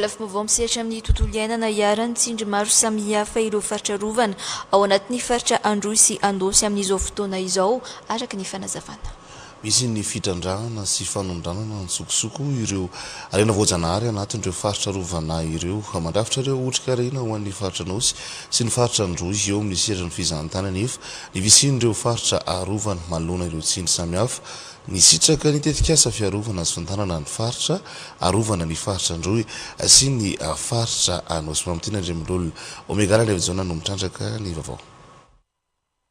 Lafim-baovao misehatra amin'ny tontolo iainana iharan'ny tsindry maro samihafa ireo faritra arovana ao anatin'ny faritra Androy sy Andosy amin'izao fotoana izao, araka ny fanazavana. Misy ny fitrandrahana sy fanondranana an-tsokosoko ireo harena voajanahary anatin'ireo faritra arovana ireo. Mandrafitra ireo otrikarena ho an'ny faritra Anôsy sy ny faritra Androy eo amin'ny seran'ny fizahantany anefa ny fisian'ireo faritra arovana manoloana ireo tsindry samihafa. Nisitraka ny tetikasa fiarovana sy fitantànana ny faritra arovana ny faritra Androy sy ny faritra Anosimamitena Andriamololona. Omega Lalevo Jaona no mitrandraka ny vaovao.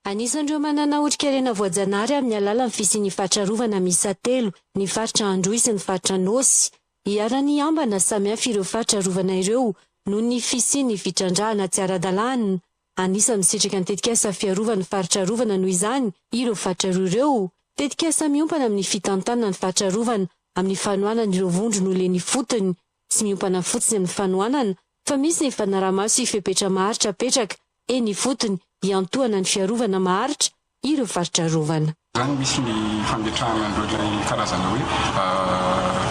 Anisan'ireo manana otrikarena voajanary amin'ny alalan'ny fisian'ny faritra arovana miisa telo ny faritra Androy sy ny faritra Anôsy. Iharan'ny hiambana samihafa ireo faritra arovana ireo noho ny fisian'ny fitrandrahana tsy ara-dalàna Anisan'ny sitraka ny tetikasa Fiarovana ny faritra arovana noho izany ireo faritra roa ireo. Tetikasa miompana amin'ny fitantanana ny faritra arovana amin'ny fanohanana ireo vondro nolen' ifotony. Tsy miompana fotsiny amin'ny fanohanana fa misy ny fanarahamaso sy fepetra maharitra apetraka eny ifotony hiantohana ny fiarovana maharitra ireo faritra arovana. Izany misy ny fametrahana an'ireo ilay karazana hoe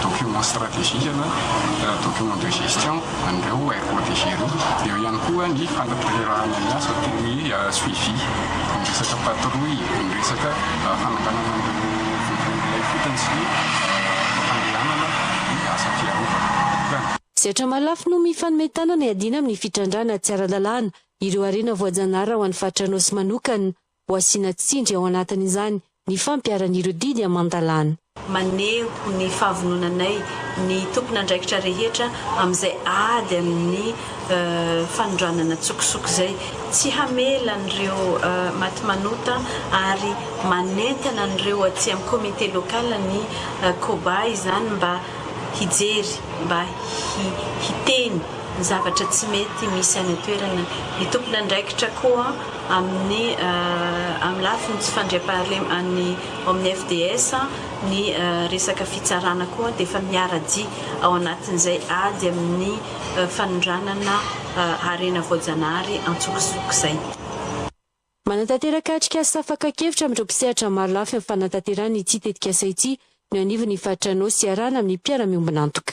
documents stratégiques na documents de gestion an'ireo aires protégées ireo. Eo ihany koa ny fanatanterahana ny asa toy ny suivi, ny resaka patrouille, ny resaka fananganana an'ireo vohibolon'ilay fotony sy ny fandehanana ny asa fiarovana. Izay hatramin'ny lafiny mifanome tanana hiadiana amin'ny fitrandrahana tsy ara-dalàna ireo harena voajanahary ho an'ny faritra Anôsy manokana ho asiana tsindry ao anatin'izany ny fampiharan'ireo didy aman-dalàna. Maneho ny fahavononanay ny tompon'andraikitra rehetra amin'izay ady amin'ny fanondranana an-tsokosoko izay, tsy hamela an'ireo maty manota ary manentana an'ireo aty amin'ny comité local ny Coba izany mba hijery, mba hiteny. ny zavatra tsy mety misy any an-toerana. Ny tompon'andraikitra koa amin'ny amin'ny lafiny tsy fandriampahalem an'ny ao amin'ny FDS, ny resaka fitsarana koa dia efa miara-dia ao anatin'izay ady amin'ny fanondranana harena voajanahary an-tsokosoko izay. Manatanteraka atrikasa fakan-kevitra amin'ireo mpisehatra maro lafy amin'ny fanatanterahana ity tetikasa ity ny eo anivon'ny Faritr'Anôsy iarahana amin'ny mpiara-miombon'antoka.